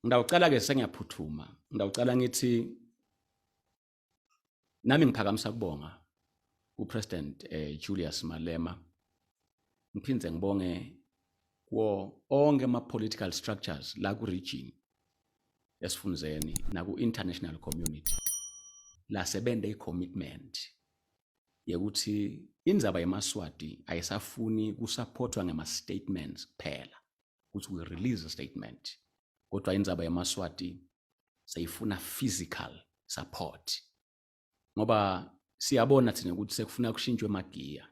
Ngidawucela ke sengiyaphuthuma. Ngidawucela ngithi nami ngiphakamisa kubonga uPresident eh, Julius Malema. Ngiphinde ngibonge kuwo onke ama-political structures la ku-region esifundeni naku-international community lasebende i-commitment yokuthi indzaba yemaswati ayisafuni kusaphothwa ngema-statements kuphela ukuthi we release a statement kodwa indzaba yamaswati sayifuna physical support ngoba siyabona thina ukuthi sekufuna kushintshwe emagiya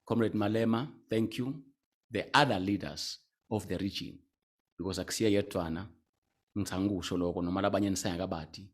comrade malema thank you the other leaders of the region because akusiye yedwana ngithanga ukusho lokho noma labanye nisengakabadi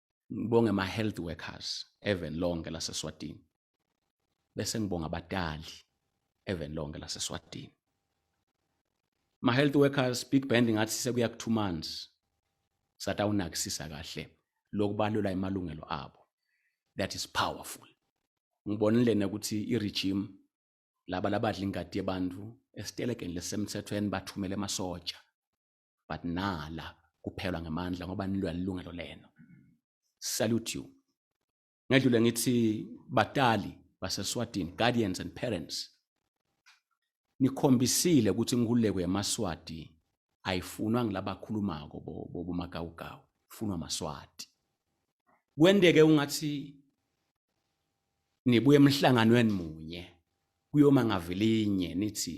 ngibonge ama health workers even lonke laseSwatini bese ngibonga abatali even lonke laseSwatini ma health workers big band ngathi sekuya ku 2 months satawunakisisa kahle lokubalula imalungelo abo that is powerful ngibonile ukuthi iregime laba labadla ingadi yebantu esitelekeni lesemthethweni bathumele emasotsha but nala kuphelwa ngamandla ngoba nilwa lilungelo lenu salute you ngedlule ngithi batali baseswatini guardians and parents nikhombisile ukuthi inkululeko yamaswati ayifunwa ngilabakhulumako bomagawugawu ifunwa amaswati kwenteke ungathi nibuye emhlanganweni munye kuyoma ngavilinye nithi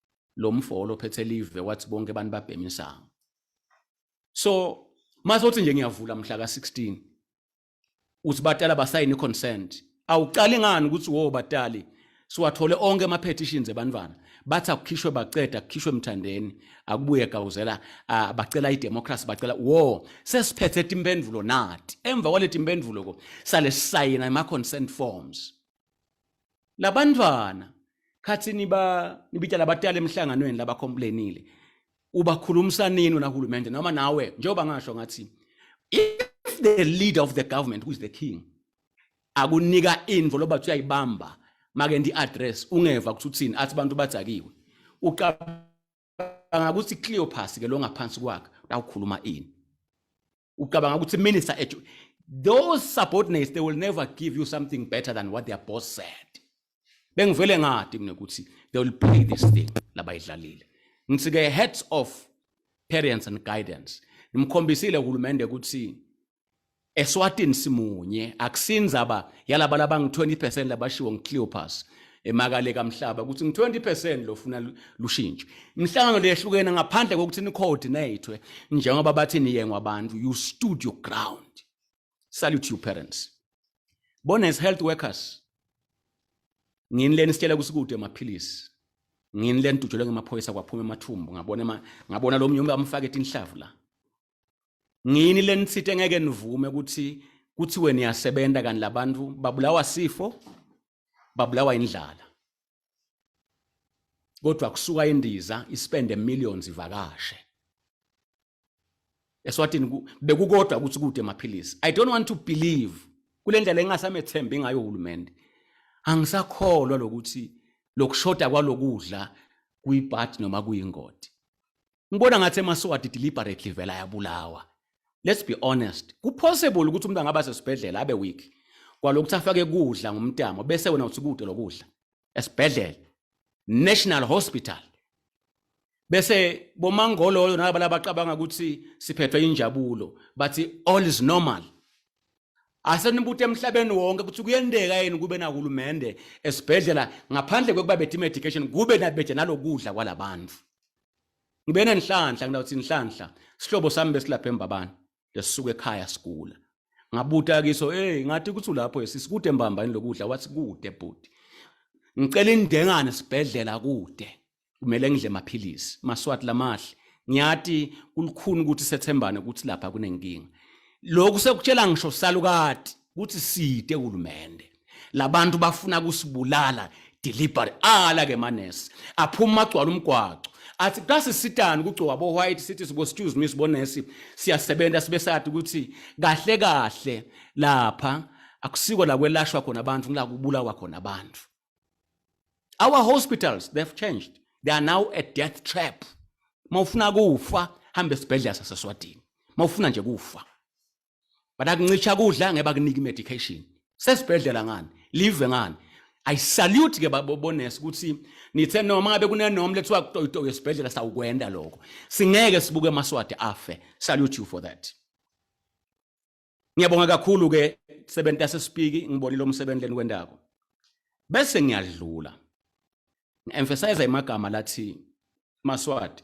lo mfo olophethe live wathi bonke abantu babhema insangu so masothi nje ngiyavula mhla ka-16 uthi batala basayine consent awuqali ngani ukuthi wo batali siwathole onke ama-petitions ebantwana bathi akukhishwe baceda kukhishwe mthandeni akubuye gawuzela uh, bacela idemocracy bacela wo sesiphethe timpendulo nati emva kwaleti mpendulo ko sale sisayina ema-consent forms labantwana khathi niba nibita labatala emhlanganweni laba complainile ubakhulumisa nini unahulumende noma nawe njengoba ngasho ngathi if the leader of the government who is the king akunika info loba kuthiwa ibamba make ndi address ungeva ukuthi uthini athi abantu badzakiwe ucabanga ukuthi Cleopas ke lo ngaphansi kwakhe lawukhuluma ini ucabanga ukuthi minister edu those subordinates they will never give you something better than what their boss said bengivele ngadi mina ukuthi they will pay this thing labayidlalile ngithi ke heads of parents and guidance nimkhombisile uhulumende ukuthi eswatini simunye akusinzaba yalaba laba ngi 20% labashiwo ngi Cleopas emakale kamhlaba ukuthi ngi-20 percent lofuna lushintshe imihlangano leyehlukene ngaphandle kokuthi ni-coordinatwe njengoba bathi niyengwa abantu you stood your ground salute you parents bona as health workers ngini leni sitshela kusikude amaphilisi ngini leni tujelwe ngemaphoyisa kwaphuma emathumbu ngabona ngabona lo mnyumba amfake tinhlavu la ngini leni sithe ngeke nivume ukuthi kuthiwe niyasebenza kanti labantu babulawa sifo babulawa indlala kodwa kusuka indiza ispende millions ivakashe eswatini bekukodwa ukuthi kude maphilisi i don't want to believe kule ndlela engasamethembi ngayo uhulumende angisakholwa lokuthi lokushoda kwalokudla kuyibhadi noma kuyingodi ngibona ngathi emaswati deliberately vela yabulawa let's be honest kupossible ukuthi umuntu angaba sesibhedlela abe weak kwalokuthi afake kudla ngomtamo bese wena uthi kude lokudla esibhedlela national hospital bese bomangololo nalabo labacabanga ukuthi siphethwe injabulo bathi all is normal asenibuthe emhlabeni wonke ukuthi kuyendeka yini kube nahulumende esibhedlela ngaphandle kwekuba bethi medication kube nabeje nalokudla kwalabantu ngibe nenhlanhla ngidawuthi inhlanhla sihlobo sami besilapha embabani lesisuka ekhaya sigula ngabuta kiso hey ngathi kuthi ulapho yesisi kude mbamba yini lokudla wathi kude bhuti ngicela indengane sibhedlela kude kumele ngidle maphilisi maswati lamahle ngiyathi kulukhuni ukuthi sethembane ukuthi lapha kunenkinga lokhu sekutshela ngisho salukati ukuthi side kulumende labantu bafuna kusibulala deliberate ala ke manesi aphuma agcwala umgwaco athi kasisitani kugcoka bo white sithi sibo excuse me sibonesi siyasebenza sibe sathi ukuthi kahle kahle lapha akusiko la kwelashwa khona abantu ngila kubulawa khona abantu our hospitals they've changed they are now a death trap mawufuna kufa hamba esibhedlela saseswadini mawufuna nje kufa but akuncisha kudla ngeke bakunike medication sesibhedlela ngani live ngani i salute ke babonesi ukuthi nithe noma ngabe kunenom lethiwa kutoyitoyo esibhedlela sawukwenda lokho singeke sibuke amaswadi afe salute you for that ngiyabonga kakhulu ke sebenzi yasesipiki ngibonile umsebenzi leni kwendako bese ngiyadlula ngi-emphasize imagama lathi maswadi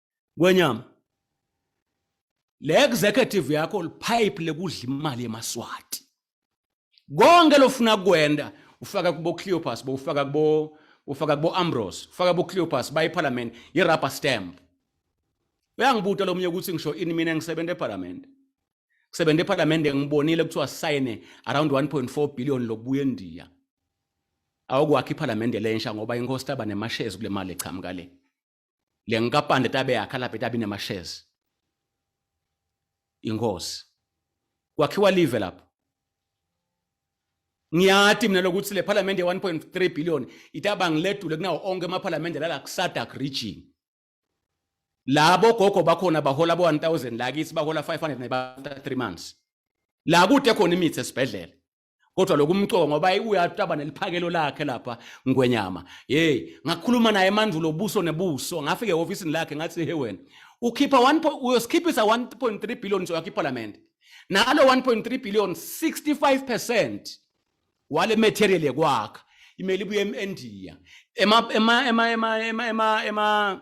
Ngwenyama. Le executive yakho lipipe lekudla imali yemaswati. Konke lofuna kwenda ufaka kubo Cleopas, bo ufaka kubo ufaka kubo Ambrose, ufaka kubo Cleopas bayi parliament ye rubber stamp. Uyangibuta lomnye ukuthi ngisho ini mina ngisebenza eParliament. Ngisebenza eParliament ngibonile kuthiwa sign around 1.4 billion lokubuya eNdiya. Awukwakha iParliament lensha ngoba inkosi taba nemashares kule mali eqhamuka le. le nkampani letabe yakha lapha etabe inemashares inkosi kwakhiwa live lapho ngiyati mina lokuthi le parliament ye 1.3 billion itaba ngiledule kunawo onke ama parliament lala kusadak region labo gogo bakhona bahola bo 1000 lakithi bahola 500 ne 3 months la kude khona imithi esibhedlela kodwa lokumcoka ngoba uyataba neliphakelo lakhe lapha ngwenyama hey ngakhuluma naye mandulo buso nebuso ngafike ehofisini lakhe ngathi he wena ukhipha 1 uyosikhiphisa 1.3 billion soyakho iparliament nalo 1.3 billion 65% wale material yekwakha imeli ibuye eMndiya ema ema ema ema ema ema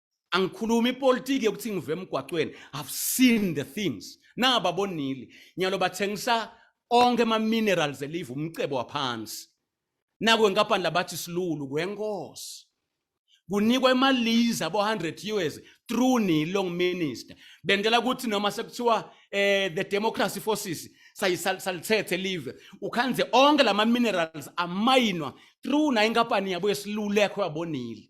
angikhulumi ipolitiki yokuthi ngive emgwaqweni i've seen the things naba bonile nyalo bathengisa onke ama minerals elive umcebo waphansi naku enkampani labathi silulu kwenkosi kunikwa imaliza abo 100 years through ni long minister bendela ukuthi noma sekuthiwa eh the democracy forces sayisalithethe live ukhanze onke lama minerals amayinwa through na inkampani yabo yesilulekho yabonile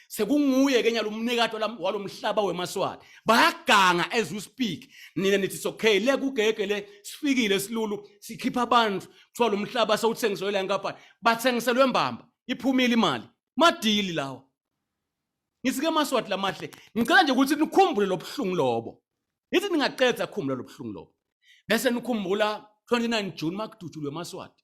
sekunguye ke nyalumnikati walomhlaba wemaswati bayaganga as we speak nina nithi it's okay le kugege le sifikile silulu sikhipha abantu kuthiwa lo mhlaba sewuthengiselwe la nkampani bathengiselwe mbamba iphumile imali madili lawa ngisike amaswati lamahle ngicela nje ukuthi nikhumbule lobuhlungu lobo ngithi ningaqedza khumbula lobuhlungu lobo bese nikhumbula 29 June makudutshulwe amaswati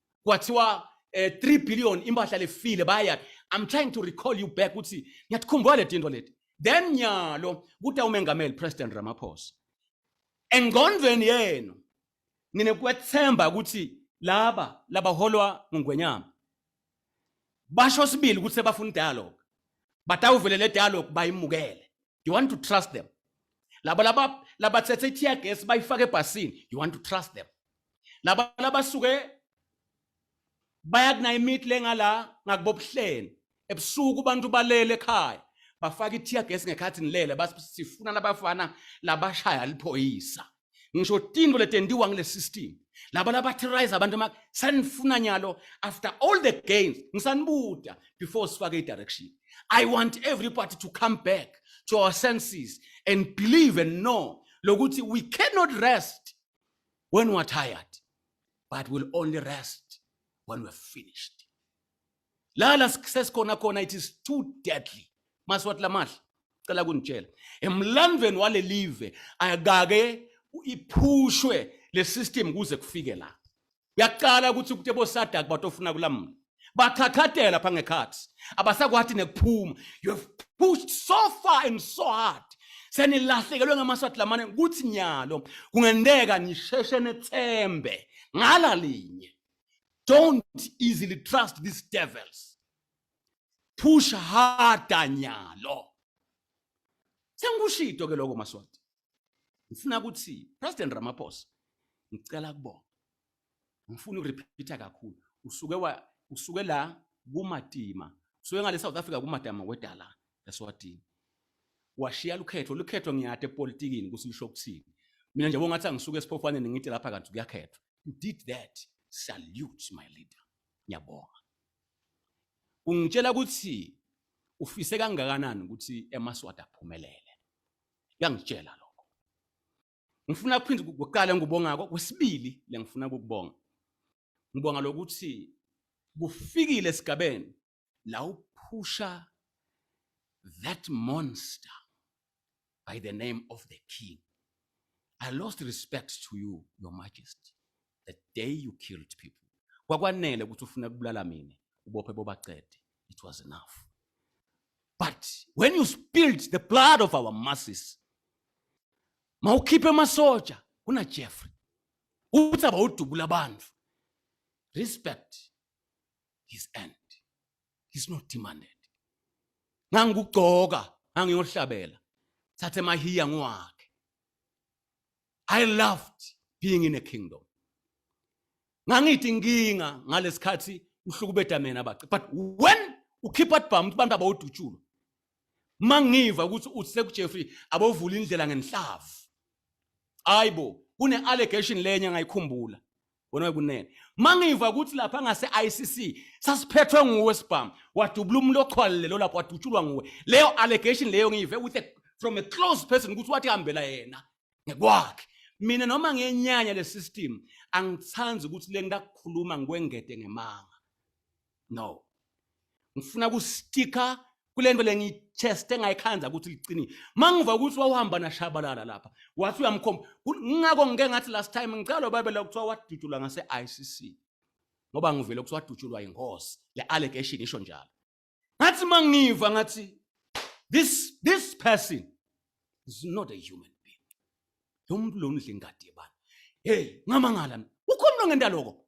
kwathiwa eh 3 billion impahla lefile baya i'm trying to recall you back ukuthi ngiyakhumbula le tinto leti then nyalo kuthi umengameli president ramaphosa engqondweni yenu nine kwethemba ukuthi laba labaholwa ngungwenyama basho sibili ukuthi sebafuna dialogue batawuvele le dialogue bayimukele you want to trust them laba laba labathethe i-tear gas bayifake ebhasini you want to trust them laba labasuke bayakunaya imithi lengala ngakubobuhleni ebusuku abantu balele ekhaya bafaka ithiya gesi ngekhathi nilele basifuna labafana labashaya liphoyisa ngisho tinto letentiwa ngile system laba labaterrorize abantu ma sanifuna nyalo after all the gains ngisanibuda before sifake i-direction i want everybody to come back to our senses and believe and know lokuthi we cannot rest when we are tired but we'll only rest when we're finished lala sesikhona khona it is too deadly maswathi lamahle cela kunitshela emlandweni walelive akake iphushwe le system kuze kufike la uyaqala ukuthi ukuthi bosadak batofuna kulamula bathakhathela pha ngekhathi abasakwathi nekuphuma you have pushed so far and so hard senilahlekelwe ngamaswati lamane kuthi nyalo kungenteka nisheshe nethembe ngala linye don't easily trust these devils push harder nyalo sengikushito ke lokho maswati ngifuna ukuthi president ramaphosa ngicela kubona ngifuna ukurepeater kakhulu usuke wa usuke la kumatima usuke ngale South Africa kumadama wedala eswatini washiya lukhetho lukhetho ngiyade epolitikini kusilisho ukuthini mina nje bongathi angisuke esiphofaneni ngithi lapha kanti kuyakhethwa did that salute my leader ngiyabonga ungitshela ukuthi ufise kangakanani ukuthi emaswati aphumelele uyangitshela lo Ngifuna ukuphinde kuqala ngubonga kwesibili lengifuna ukubonga. Ngibonga lokuthi kufikile esigabeni la uphusha that monster by the name of the king. I lost respect to you, your majesty. the day you killed people kwakwanele ukuthi ufuna kubulala mina ubophe bobacede it was enough but when you spilled the blood of our masses mawukhiphe amasoja kuna Jeffrey uthi abawudubula abantu respect his end he's not demanded ngangikugcoka ngangiyohlabela thathe mahiya ngwakhe I loved being in a kingdom. Ngangithi nginga ngalesikhathi uhlukubeda mina bace. But when ukhipha dbam ukuthi abantu abawudutshulo. Mangiva ukuthi uthi sekuJeffrey abovula indlela ngenhlavu. Ayibo, kune allegation lenye ngayikhumbula. wena kunene mangiva ukuthi lapha ngase ICC sasiphethwe nguwe sibhamu wadubula umuntu oxhwalile lo lapho wadutshulwa nguwe leyo allegation leyo ngiyive with a, from a close person ukuthi wathi hambela yena ngekwakhe mina noma ngenyanya le system angithandi ukuthi le ngidakukhuluma ngikwengede ngemanga no ngifuna kustika kule nto le ngiyitheste ngayikhanza ukuthi liqinile mangiva ukuthi wawuhamba nashabalala lapha wathi uyamkhomba ngingako ngike ngathi last time ngicela ubabela kuthiwa wadutshulwa ngase-icc ngoba ngivele kuthiwa wadutshulwa yinkosi le allegation isho njalo ngathi mangiva ngathi this this person is not a human being lo muntu lo ngidla ingadi yebani hey ngamangala ukhona lo ngendaloko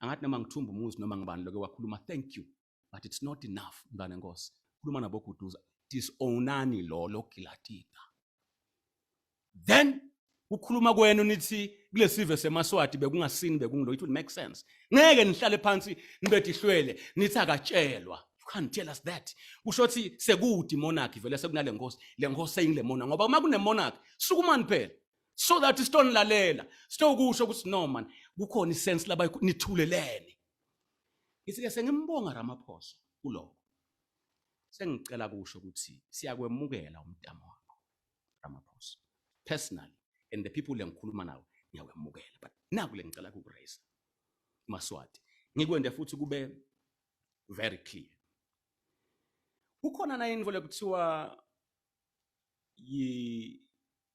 angathi noma ngithumba umuzi noma ngibani loke wakhuluma thank you but it's not enough mntwana enkosi khuluma naboguduza disownani lo logilatida then ukhuluma kwenu nithi kulesive semaswati bekungasini bekungulo it will make sense ngeke nihlale phansi nibe dihlwele nithi akatshelwa can't tell us that kusho ukuthi sekude monarchy vele sekunale nkosi le nkosi seyingile monarchy ngoba uma kunemonarchy sukumani phela so that sitonilalela sitokusho ukuthi no man kukhona isense laba nithulelene ngithi ke sengimbonga Ramaphosa kuloko sengicela kusho ukuthi siyakwemukela umdamo wakho Ramaphosa personally and the people engikhuluma nawo ngiyakwemukela but naku lengicela ukuraise maswati ngikwende futhi kube very clear kukhona na info lekuthiwa yi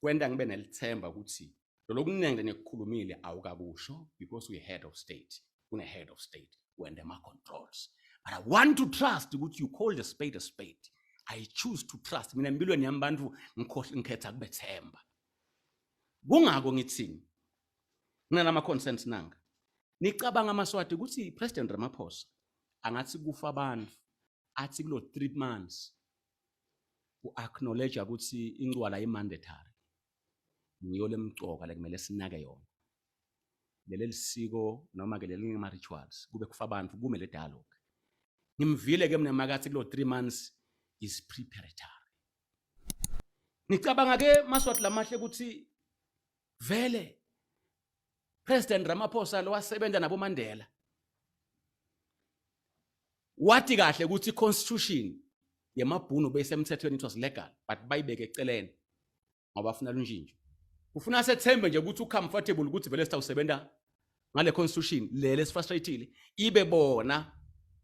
kwenta ngibe nelithemba ukuthi lolokunengi lenikukhulumile awukakusho because we head of state kune head of state wende ama controls but i want to trust ukuthi you call the spade a spade i choose to trust mina empilweni yami bantu ngikhetha kubethemba kungako ngithini nginalama concerns nanga nicabanga amaswati ukuthi president ramaphosa angathi kufa abantu athi kulo 3 months u-acknowledge ukuthi incwala imandatory ngiyo lemcoka lekumele sinake yona leli lisiko noma ke leli ngama rituals kube kufa abantu kume le dialogue ngimvile ke mina makathi kulo 3 months is preparatory ngicabanga ke maswathi lamahle ukuthi vele President Ramaphosa lo wasebenza nabo Mandela wathi kahle ukuthi constitution yemabhunu beyisemthethweni it was legal but bayibeke eceleni ngoba afuna lunjinjo ufuna sethembe nje ukuthi ucomfortable ukuthi vele sitawusebenza ngale constitution le lesifrustrated ibe bona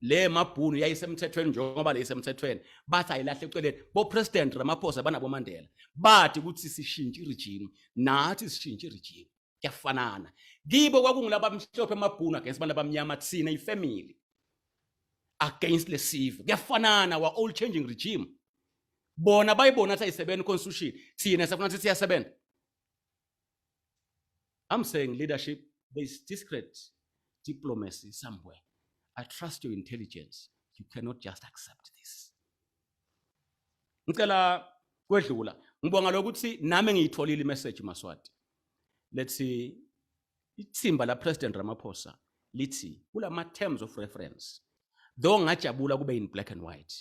le mabhunu yayisemthethweni njengoba le isemthethweni bathi ayilahle eceleni bo president Ramaphosa banabo Mandela bathi ukuthi sishintshe regime nathi sishintshe regime kuyafanana kibo kwakungilaba abamhlophe amabhunu against abantu abamnyama thina ifamily against lesive kuyafanana wa all changing regime bona bayibona athi ayisebenzi constitution thina safuna ukuthi siyasebenza I'm saying leadership, there is discreet diplomacy somewhere. I trust your intelligence. You cannot just accept this. Ngicela kwedlula. Ngibonga lokuthi nami ngiyitholile message Maswati. Let's see ithimba la President Ramaphosa lithi kulama terms of reference though ngajabula kube in black and white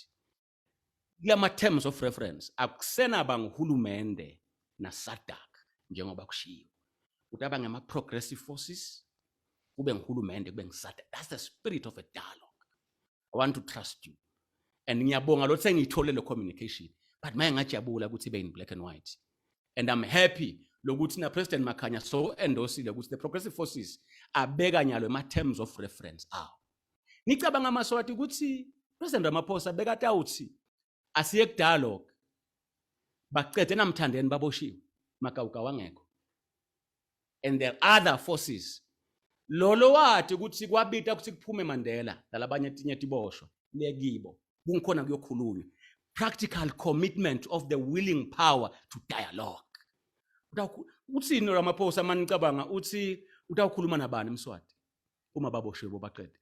Kulama-terms of reference akusenaba nguhulumende nasadak njengoba kushiwo ukuthi aba ngama-progressive forces kube nguhulumende kube ngisadak that's the spirit of a dialogue i want to trust you and ngiyabonga lothi sengiyithole le communication but maye ngajabula ukuthi ibe in black and white and i'm happy lokuthi na President Makhanya so endosile ukuthi the progressive forces abeka nyalo ema terms of reference awo Nicabanga amaSwati ukuthi President Ramaphosa bekade awuthi asiye ku dialogue. Baqede namthandeni baboshiwe magawuga wangekho. And there are other forces. Lolo wathi ukuthi kwabita ukuthi kuphume Mandela nalabanye tinye tiboshwa lekibo. Kungikhona kuyokhulunywa. Practical commitment of the willing power to dialogue. Uthini Ramaphosa manicabanga uthi utawukhuluma nabani eMswati? uma baboshiwe bobaqede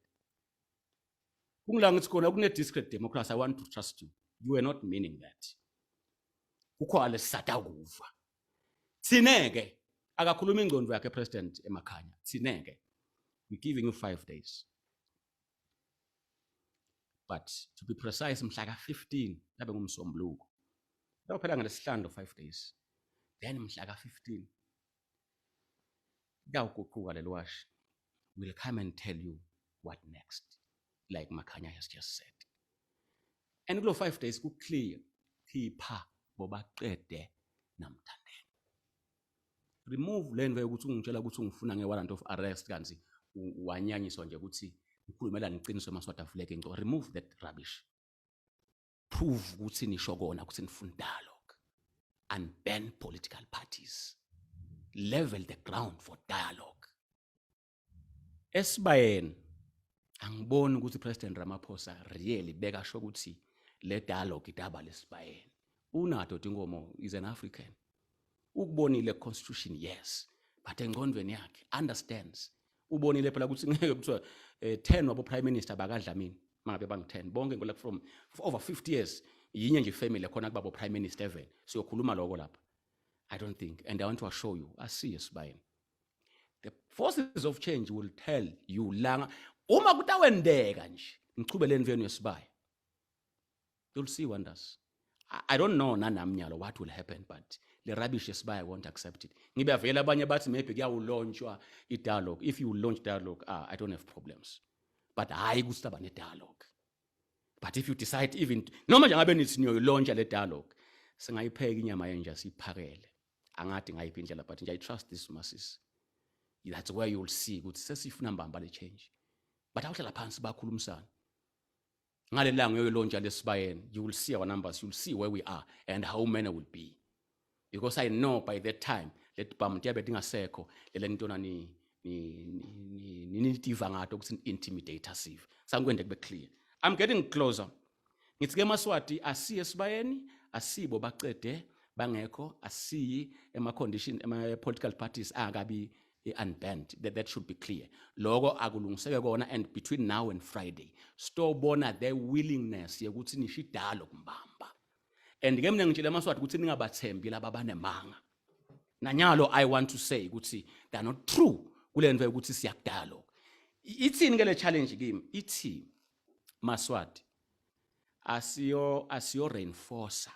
kungila ngithi khona kune-discret democracy i want to trust you you are not meaning that kukho alesisada ukuva thine-ke akakhuluma ingcondo yakhe president emakhanya thine-ke we giving you five days but to be precise mhla ka-15 labe ngumsombuluko lakuphela ngelesihlanu 5 days then mhla ka-15 Kuyawuguquka leli washi. We'll come and tell you what next. Like Makhanya has just said. And kulo 5 days ku clear phipha bobaqede namthandeni. Remove lento yokuthi ungitshela ukuthi ungifuna nge warrant of arrest kanti wanyanyiswa nje ukuthi ngikhulumelana iqiniso emaswatafuleke ngco remove that rubbish. prove ukuthi nisho kona ukuthi nifuna dialogue and ban political parties level the ground for dialogue esibayeni angiboni ukuthi president Ramaphosa really beka sho ukuthi le dialogue idaba lesibayeni unato dingomo is an african ukubonile constitution yes but engqondweni yakhe understands ubonile phela ukuthi ngeke kuthiwa um eh, 10 wabo-prime minister bakadlamini mangabe bangu-10 bonke ngolak from over 50 years yinye nje ifamily khona kubabo prime minister even siyokhuluma lokho lapha i don't think and i want to assure you asiye sibayeni the forces of change will tell you langa uma kutawendeka nje ngichubeleni venu yesibaya you'll see wonders I don't know nanami nyalo what will happen but le rubbish esibaya won't accept it ngibe avele abanye bathi maybe kuyawulonshwa i-dialogue if you launch dialogue ah, I don't have problems but hhayi ukuthi saba ne-dialogue but if you decide even noma nje ngabe nithi niyoyilontsha le dialogue singayipheka inyama yenja siyiphakele angathi ngayiphi indlela but nje i trust this masisi that's where you'll see ukuthi sesifuna mbamba le change but awuhlala phansi bakhulumisana ngalelanga uyoyolontsha lesibayeni you will see our numbers you will see where we are and how many will be because i know by that time leti bhamu tiyabe tingasekho lele ntona ni nitiva ngato ukuthi ni-intimidate sive sangikwende kube clear i'm getting closer ngithi ke maswati asiye esibayeni asibo bacede bangekho asiyi ema-condition ema-political parties angakabi i-unbanned that, that should be clear loko akulungiseke kona and between now and friday sitobona the willingness yokuthi nisho idalo kumbamba and ke mina ngitshele amaswati ukuthi ningabathembi laba banemanga nanyalo i want to say ukuthi they are not true kule nto yokuthi siyakudalo ithini ke le challenge kimi ithi maswati asiyo asiyo reinforcer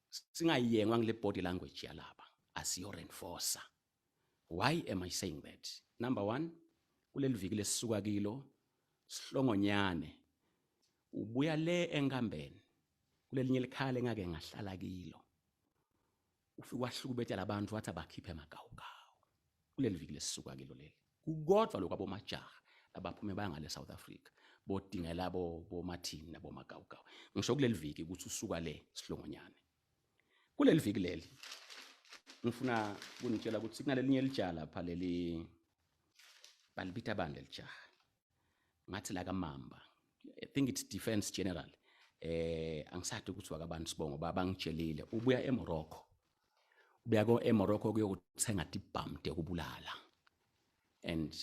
singayengwa ngile body language yalaba asiyo reinforcer why am i saying that number 1 kuleli viki lesisuka kilo sihlongonyane ubuya le enkambeni kulelinye likhale engake ngahlala kilo ufike wahlukubetela abantu wathi abakhiphe amagawugawu kuleli viki lesisuka kilo leli kukodwa lokho abomajaha abaphume bangale South Africa bodingela bo bomathini nabo magawugawu ngisho kuleli viki ukuthi usuka le sihlongonyane kuleli viki leli ngifuna kunitshela ukuthi kunalelinye lijala pha leli balibitha bani lelijaha ngathi la kamamba i think it's defense general eh angisadi ukuthi wakabani sibongo baba ngitshelile ubuya eMorocco ubuya ko eMorocco kuyokuthenga tibhamde kubulala and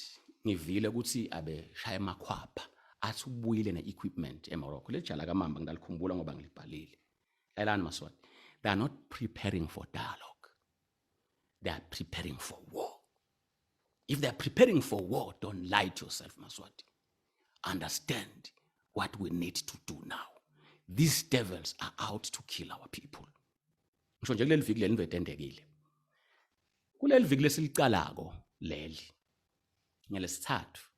ngivile ukuthi abe shaya emakhwapha athi ubuyile ne-equipment emorocco leli jala kamamba ngidalikhumbula ngoba ngilibhalile lalani maswati they are not preparing for dialogue they are preparing for war If they are preparing for war, don't lie to yourself, Maswati. Understand what we need to do now. These devils are out to kill our people. Ngisho nje kuleli viki leli ndoda endekile. Kuleli viki lesilicalako leli. Ngelesithathu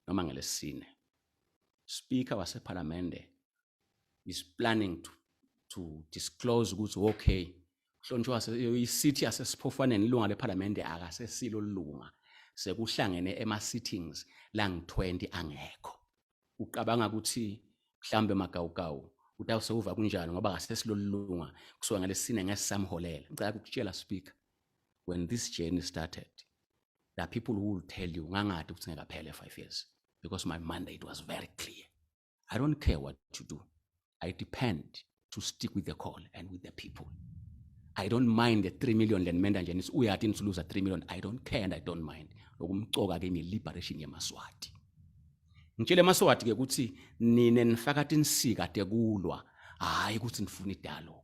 noma ngelesine. Speaker wasePhalamende is planning to to disclose ukuthi okay uhlonishwa isithy asesiphofaneni ilunga lephalamende akasesilo lunga sekuhlangene ema-sittings langi-20 angekho ucabanga ukuthi mhlawumbe magawugawu ukuthi awusewuva kunjani ngoba kasesilolunga kusuka ngalesine ngeke sisamholela ngicela ukutshela speaker when this journey started the people who will tell you ngangathi ukuthi ngekaphele five years because my mandate was very clear I don't care what you do. I depend to stick with the call and with the people. I don't mind the 3 million lenimenda nje nithi uyathi nisuluza 3 million. I don't care and I don't mind. Lokumcoka ke ngiliberation yemaswati. Ngitshele emaswati ke ukuthi nine nifaka tinsika tekulwa hayi ukuthi nifuna idialogue.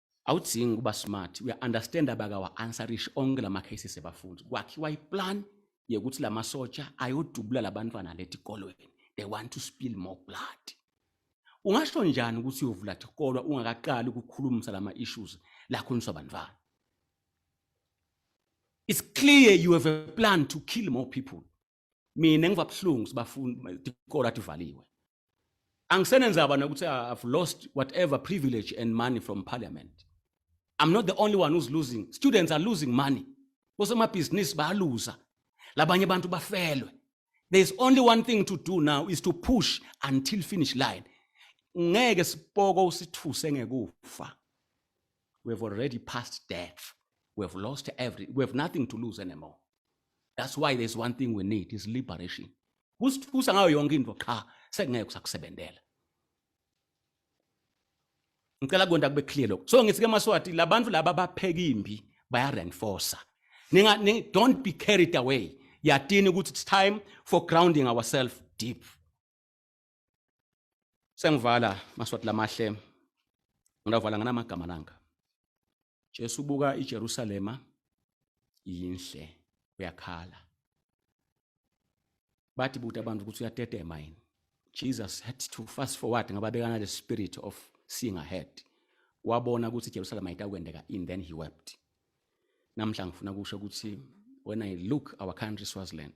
awudzingi ukuba smart uya-understand abakawa-answerishi onke la ma-cases ebafundi kwakhiwa iplan yekuthi la masotsha ayodubula labantwana letikolweni they want to spill more blood ungasho njani ukuthi uyovula tikolwa ungakaqali ukukhulumisa lama-issues lakhulunyiswa bantwana it's clear you have a plan to kill more people mina ngiva buhlungu sibafundi ikolo athi valiwe angisenenzaba nokuthi i've lost whatever privilege and money from parliament i'm not the only one who's losing students are losing money kosemabhizinisi bayaluza labanye abantu bafelwe there's only one thing to do now is to push until finish line ngeke sipoko usithuse ngekufa we have already passed death we have lost every we have nothing to lose anymore that's why there's one thing we need is liberation kusithusa ngayo yonke into qha sekungeke usakusebenzela ngicela konta kube clear lokho so ngithi ke maswati labantu laba bapheka imbi baya reinforcer ninga don't be carried away yatini ukuthi it's time for grounding ourselves deep sengivala maswati lamahle ngilavala nganamagama langa Jesu buka iJerusalema yinhle uyakhala bathi buta abantu ukuthi uyatetema yini Jesus had to fast forward ngababekana the spirit of seeing ahead wabona ukuthi iJerusalem ayitakwendeka in then he wept namhla ngifuna kusho ukuthi when i look our country Swaziland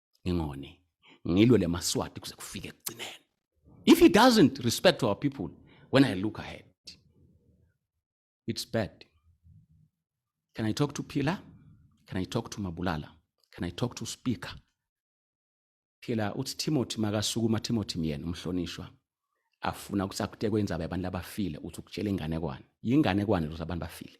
ngingoni ngilwe le maswati kuze kufike ekugcineni if he doesn't respect our people when i look ahead it's bad can i talk to pila can i talk to mabulala can i talk to speaker phela uthi timothy makasukuma timothy myena umhlonishwa afuna ukuthi akutekwe indzaba yabantu labafile uthi ukutshela inganekwane yinganekwane lokuthi abantu bafile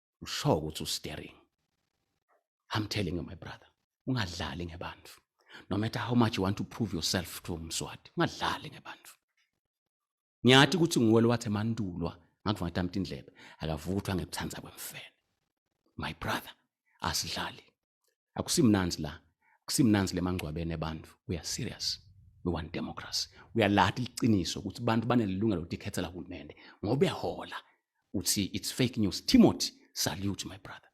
I'm sure ukuthi usteering. I'm telling you my brother, ungadlali ngebantu. No matter how much you want to prove yourself to umswati, ungadlali ngebantu. Ngiyathi ukuthi nguwe lowathe mandulwa ngakuva ngatamta indlebe akavuthwa ngekuthanda kwemfene. My brother, asidlali. akusimnanzi la akusimnanzi lemangcwabeni abantu we are serious we want democracy uyalahla iqiniso ukuthi abantu banelungelo ukuthi ikhethela uhulumende ngoba ehola uthi it's fake news timothy salute my brother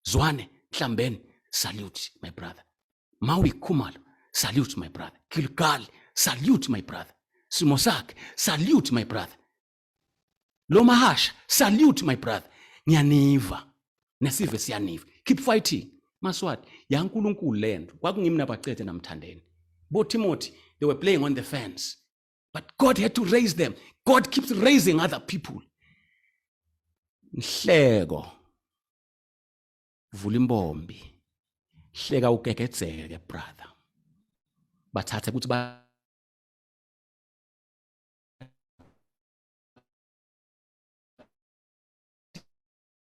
zwane nhlambeni salute my brother mawi khumalo salute my brother gilgal salute my brother simo sakhe salute my brother lo mahasha salute my brother ngiyaniva nesive siyaniva keep fighting maswati yankulunkulu lento kwakungimi nabacethe namthandeni bo timothy they were playing on the fence but god had to raise them god keeps raising other people nhleko vula imbombi hleka ugegedzeke brother bathathe ukuthi ba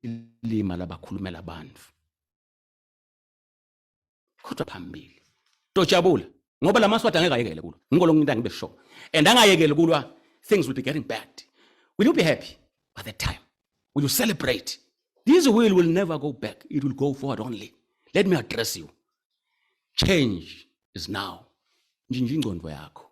ilima labakhulumela abantu kodwa phambili tojabula ngoba lamaswati angeke ayekele kulwa ngiko lokunginta ngibe sure and angayekeli kulwa things will be getting bad will you be happy by that time will you celebrate this will will never go back it will go forward only let me address you change is now njinja ingcondo yakho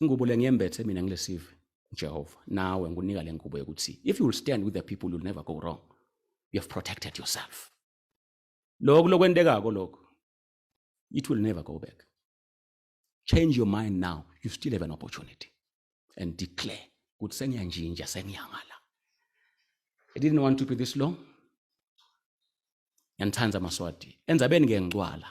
Ingubo le ngiyembethe mina ngilesive uJehova nawe ngikunika le ngubo yokuthi if you will stand with the people you'll never go wrong you have protected yourself lokhu lokwentekako lokhu it will never go back change your mind now you still have an opportunity and declare ukuthi sengiyanjinja sengiyangala i didn't want to be this long ngiyanithanda maswati enzabeni ke ngicwala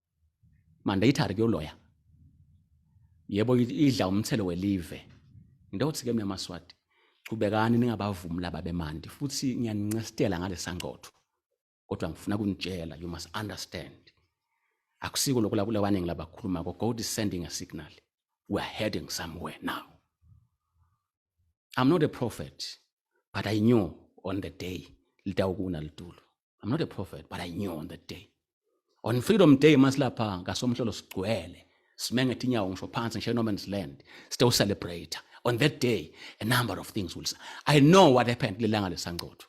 mandatory kuyoloya yebo idla umthelo welive into yokuthi ke mina maswati qhubekani ningabavumi laba bemandi futhi ngiyanincestela ngalesangcotho kodwa ngifuna kunitshela you must understand akusiko lokho la kulewaningi labakhuluma ko god is sending a signal we are heading somewhere now i'm not a prophet but i knew on the day litawukuna litulo I'm not a prophet, but I knew on that day. On Freedom Day masilapha ngasomhlolo sigcwele simengethe inyawo ngisho phansi ngisho no man's land still celebrate on that day a number of things will I know what happened lelanga lesangcotho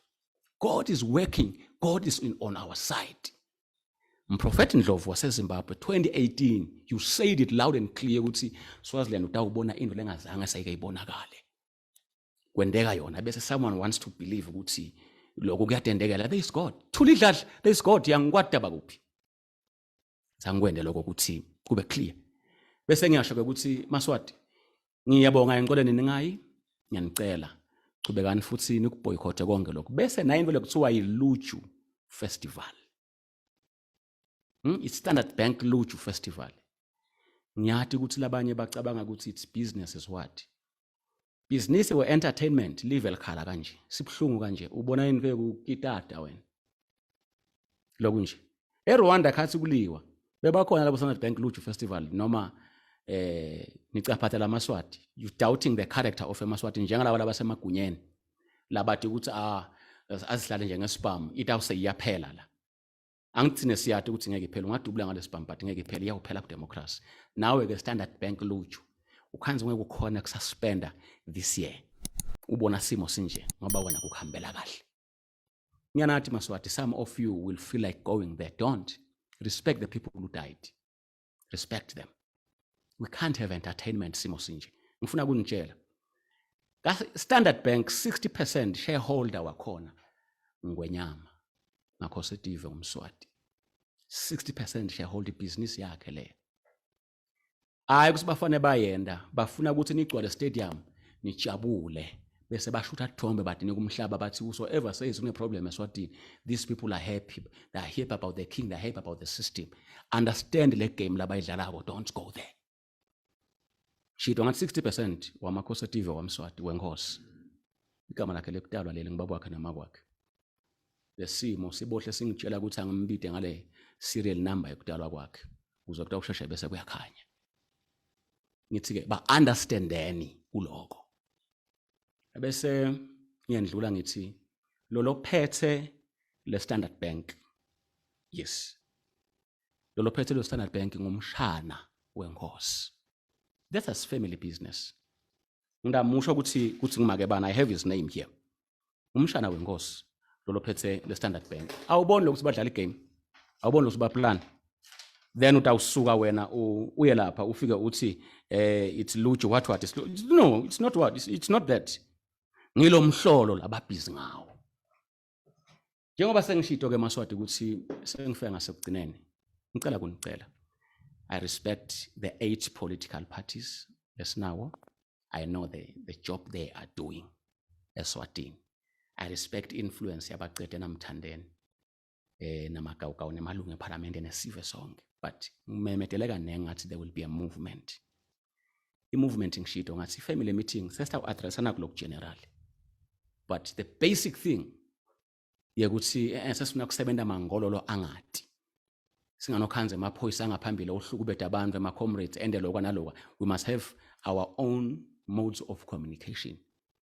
God is working God is in, on our side Mprofethi Ndlovu waseZimbabwe 2018 you said it loud and clear ukuthi Swaziland utawubona into lengazange sayike ibonakale kwendeka yona bese someone wants to believe ukuthi lokho kuyatendekela there is god thula idladla there is god yangikwada bakuphi sangikwende lokho ukuthi kube clear bese ngiyasho ke ukuthi maswati ngiyabonga encoleni ningayi ngiyanicela chubekani futhi nikuboycothe konke lokho bese naye into lekuthiwa yiluju festival Hmm? It's Standard Bank Luju Festival. Ngiyati ukuthi labanye bacabanga ukuthi it's business is what? Business or entertainment live elikhala kanje. Sibhlungu kanje. Ubona yini ke ukitata wena? Lokhu nje. ERwanda khathi kuliwa. Bebakhona labo Standard Bank Luju Festival noma eh nicaphatha lamaswati. You doubting the character of emaswati njengalabo labasemagunyeni. Labathi ukuthi ah azihlale njengesibhamu. Itawuse iyaphela la. angithine siyade ukuthi ngeke iphele ungadubula ngalesibhambhadi ngeke iphele iyawuphela kudemocracy nawe ke standard bank luju ukhanzi ngeke ukhona kususpenda this year ubona simo sinje ngoba wena kukuhambela kahle ngiyanathi maswati some of you will feel like going there don't respect the people who died respect them we can't have entertainment simo sinje ngifuna kunitshela ka Standard Bank 60% shareholder wakhona ngwenyama ngakho setive umswati 60% shareholder business yakhe le hayi ukuthi bafane bayenda bafuna ukuthi nigcwale stadium nijabule bese bashutha thombe badine kumhlaba bathi whosoever says uneproblem eswatini these people are happy they are happy about the king they are happy about the system understand le game labayidlalako don't go there shito ngathi 60 percent wamakhosi etive wamswati wenkosi igama lakhe lekutalwa leli ngibaba wakhe nama kwakhe lesimo sibohle singitshela ukuthi angimbide ngale serial number yokutalwa kwakhe kuze kuthiwa usheshe bese kuyakhanya ngithi-ke ba-understandeni kuloko Ebese ngiyandlula ngithi lo lophethe le Standard Bank. Yes. Lo lophethe le Standard Bank ngumshana wenkosi. That is family business. Ngidamusho ukuthi ukuthi ngimake bana I have his name here. umshana wenkosi lolo phethe le standard bank awuboni lokuthi badlala igame awuboni lokuthi baplan then utawusuka wena uye lapha ufike uthi eh it's luju what what it's, no it's not what it's, it's not that ngilomhlolo lababhizi ngawo njengoba sengishito ke maswati ukuthi sengifika ngasekugcineni ngicela kunicela i respect the eight political parties lesinawo i know the, the job they are doing eswatini i respect influence yabaqede namthandeni eh namagawugawu nemalungu ephalamende nesive sonke but ngimemeteleka nengathi there will be a movement i-movement ngishido ngathi i-family meeting sesita ku-addressa nakulokhu general but the basic thing yekuthi eh, eh, sesifuna kusebenza mangololo angati singanokhanza emaphoyisa angaphambili ohlukubeda abantu ema-comrades ende lokwa nalokwa we must have our own modes of communication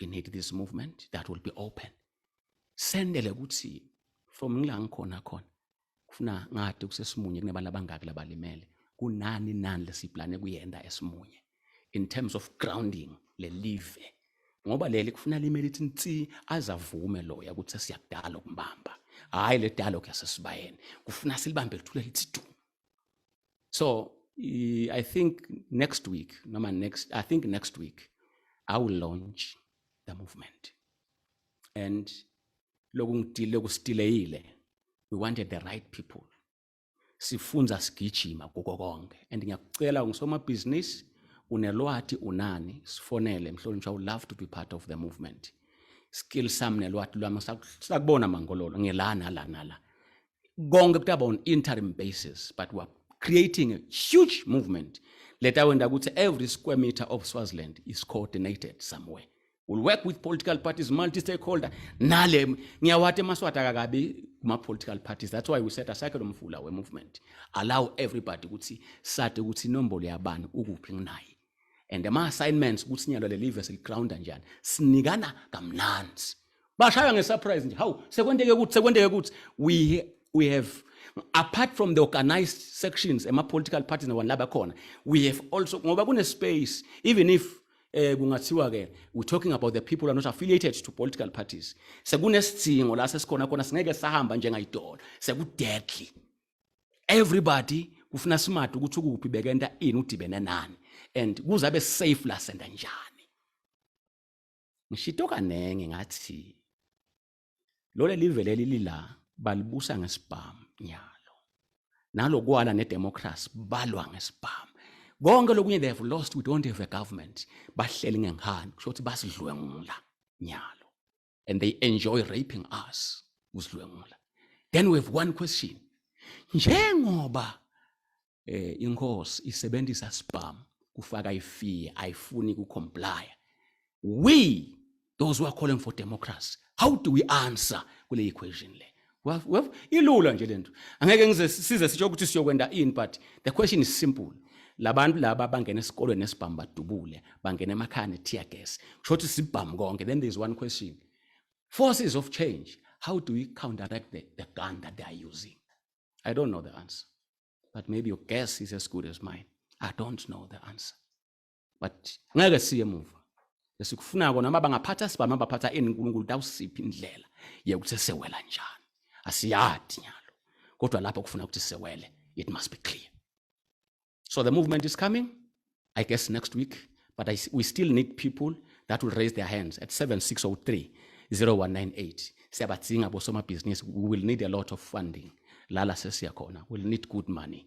we need this movement that will be open sendele ukuthi from ngila ngikhona khona kufuna ngade kusesimunye kunebantu abangaki labalimele kunani nani lesiplane kuyenda esimunye in terms of grounding le live ngoba leli kufuna limele ithi nsi azavume loya ukuthi sesiyakudala ukumbamba hayi le dialogue yasesibayeni kufuna silibambe lithule lithi du so i think next week noma next i think next week i will launch the movement and lokungidile kusitileyile we wanted the right people sifunza sigijima kuko konke and ngiyakucela ungisomabhizinisi unelwati unani sifonele mhlonishwa u love to be part of the movement skill sami nelwati lwami sakubona mangololo ngilana lana la konke kutaba on interim basis but we're creating a huge movement leta wenda ukuthi every square meter of swaziland is coordinated somewhere will work with political parties multi stakeholder nale ngiyawati emaswati akakabi kuma-political parties that's why we set asakhe lo mfula we-movement allow everybody ukuthi sade ukuthi inombolo yabani ukuphi nginaye and ama assignments ukuthi sinyalwa lelive siligrounda njani sinikana kamnandi bashaya ngesurprise nje hawu sekwenteke ukuthi sekwenteke ukuthi we we have apart from the organized sections ema political parties nabantu laba khona we have also ngoba kune space even if eh kungathiwa ke we talking about the people are not affiliated to political parties sekunesidingo la sesikhona khona singeke sahamba njengayidola sekudeadly everybody kufuna smart ukuthi ukuphi bekenta ini udibene nani and kuze abe safe la senda njani ngishito kanenge ngathi lole live leli lila balibusa ngesibhamu nyalo nalokwala nedemocracy balwa ngesibhamu konke lokunye they have lost we don't have a government bahleli ngenkhani kusho ukuthi basidlwengula nyalo and they enjoy raping us usidlwengula then we have one question njengoba eh inkosi isebenzisa spam kufaka ifee ayifuni ku comply we those who are calling for democracy how do we answer kule equation le ilula nje lento angeke ngize size sitsho ukuthi siyokwenda in but the question is simple labantu laba bangena esikolweni nesibhamu badubule bangena emakhaya ne-tear gas kusho ukuthi sibhamu konke then there is one question forces of change how do we counteract the, the gun that they are using i don't know the answer but maybe your guess is as good as mine i don't know the answer but ngeke siye emuva esikufuna kona uma bangaphatha sibani abaphatha ini uNkulunkulu tawusiphi indlela yekuthi sewela njani asiyadi nyalo kodwa lapho kufuna ukuthi sewele it must be clear so the movement is coming i guess next week but I, we still need people that will raise their hands at 7603 0198 siyabadzinga bosomabhizinisi we will need a lot of funding lala sesiya khona we'll need good money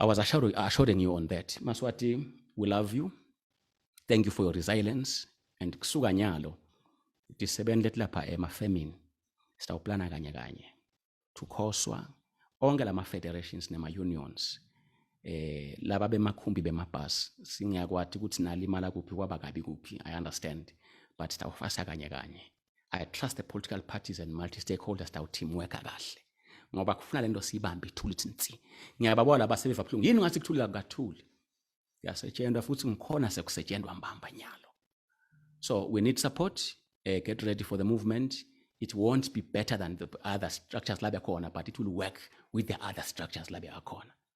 I was assuring, assuring you on that. Maswati, we love you. Thank you for your resilience. And kusuka nyalo, disebenzele lapha emafemini. Sitawuplana kanye kanye. Tukhoswa, onke lama federations nema unions. Eh, laba bemakhumbi bemabhasi singiyakwati ukuthi nalimala kuphi kwaba kabi kuphi i understand but sitawufasa kanye kanye I trust the political parties and multi-stakeholders that teamworka kahle ngoba kufuna lento siyibambe ithuli ithi nsi ngiyababona laba sebeva buhlungu yini ngathi kuthuli kakukathuli kuyasetshenzwa futhi ngikhona sekusetshenzwa mbamba nyalo so we need support uh, get ready for the movement it won't be better than the other structures la bekhona but it will work with the other structures la bekhona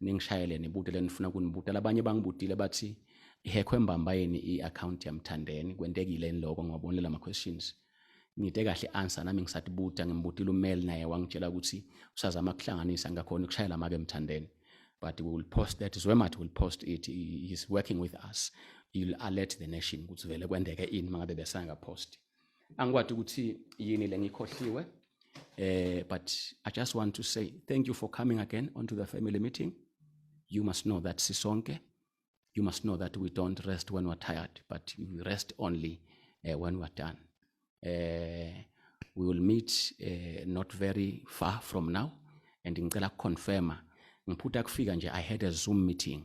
ningishayele nibute lenifuna kunibuta labanye bangibutile bathi ihekhwe mbamba yini i-akhawunti yamthandeni kwentekile yini loko ngiwabonile lama-questions ngide kahle i-answer nami ngisatibuta ngimbutile umeli naye wangitshela ukuthi usazama kuhlanganisa ngakhona ukushayela make emthandeni but we will post that zwemat will post it he is working with us you'll alert the nation ukuthi vele kwendeke ini mangabe besangaposti angikwadi ukuthi yini le ngikhohliwe eh but i just want to say thank you for coming again onto the family meeting you must know that sisonke you must know that we don't rest when we're tired but we rest only uh, when we're done uh, we will meet uh, not very far from now and ngicela kuconfirma ngiphutha kufika nje i had a zoom meeting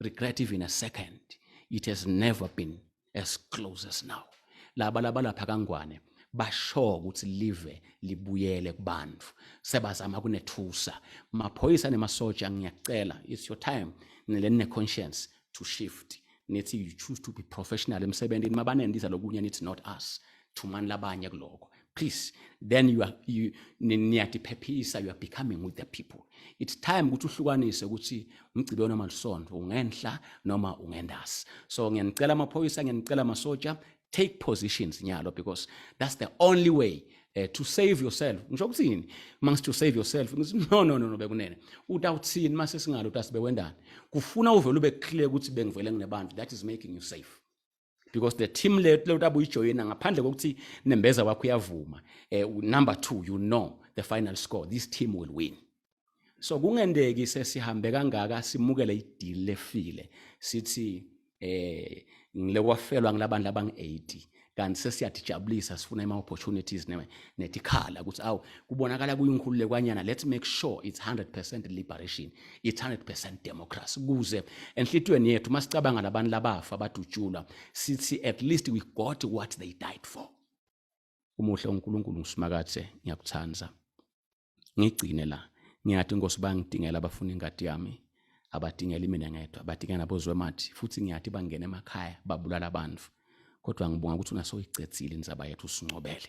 regret even a second it has never been as close as now laba laba lapha kangwane basho ukuthi live libuyele kubantu sebazama kunethusa maphoyisa nemasoja ngiyacela it's your time nileni neconscience to shift nithi you choose to be professional emsebenzini mabanendiza lokunye nithi not us thumani labanye kuloko please then you are you niyatiphephisa you are becoming with the people it's time ukuthi uhlukanise ukuthi umgcibelo noma lisonto ungenhla noma ungendasi so ngiyanicela amaphoyisa ngiyanicela amasoja take positions nyalo because that's the only way uh, to save yourself ngisho ukuthini mangithi to save yourself ngithi no no no, no bekunene uthi awuthini mase singalo uthi asibewendani kufuna uvele ube clear ukuthi bengivele nginebantu that is making you safe because the team leyo utabuyijoyina ngaphandle kokuthi nembeza wakho uyavuma eh, number 2 you know the final score this team will win so kungendeki sesihambe kangaka simukele ideal lefile sithi eh ngile kwafelwa ngilabandla abang80 kanti sesiyadijabulisa sifuna ama opportunities netikhala ukuthi awu kubonakala kuyinkhululekwanyana let's make sure it's 100% liberation it's 100% democracy kuze enhlitweni yethu masicabanga labantu labafa badutshulwa sithi at least we got what they died for umuhle uNkulunkulu ngisimakathe ngiyakuthanda ngigcine la ngiyathi inkosi bangidingela abafuna ingadi yami abadingeli mina ngedwa badinga nabozwemathi futhi ngiyathi bangena emakhaya babulala abantu kodwa ngibonga ukuthi unasoyicethile inzaba yethu usincobele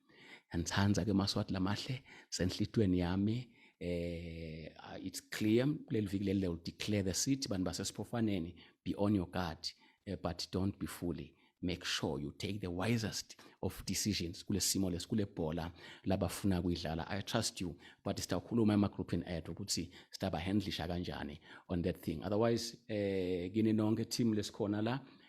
ngithanda ke maswati lamahle senhlitweni yami eh uh, it's clear kuleli viki leli will declare the city bantu basesiphofaneni be on your guard uh, but don't be fully make sure you take the wisest of decisions kulesimo lesikule bhola labafuna kuyidlala i trust you but sitawukhuluma ema group in ad ukuthi sitaba handlisha kanjani on that thing otherwise eh kini nonke team lesikhona la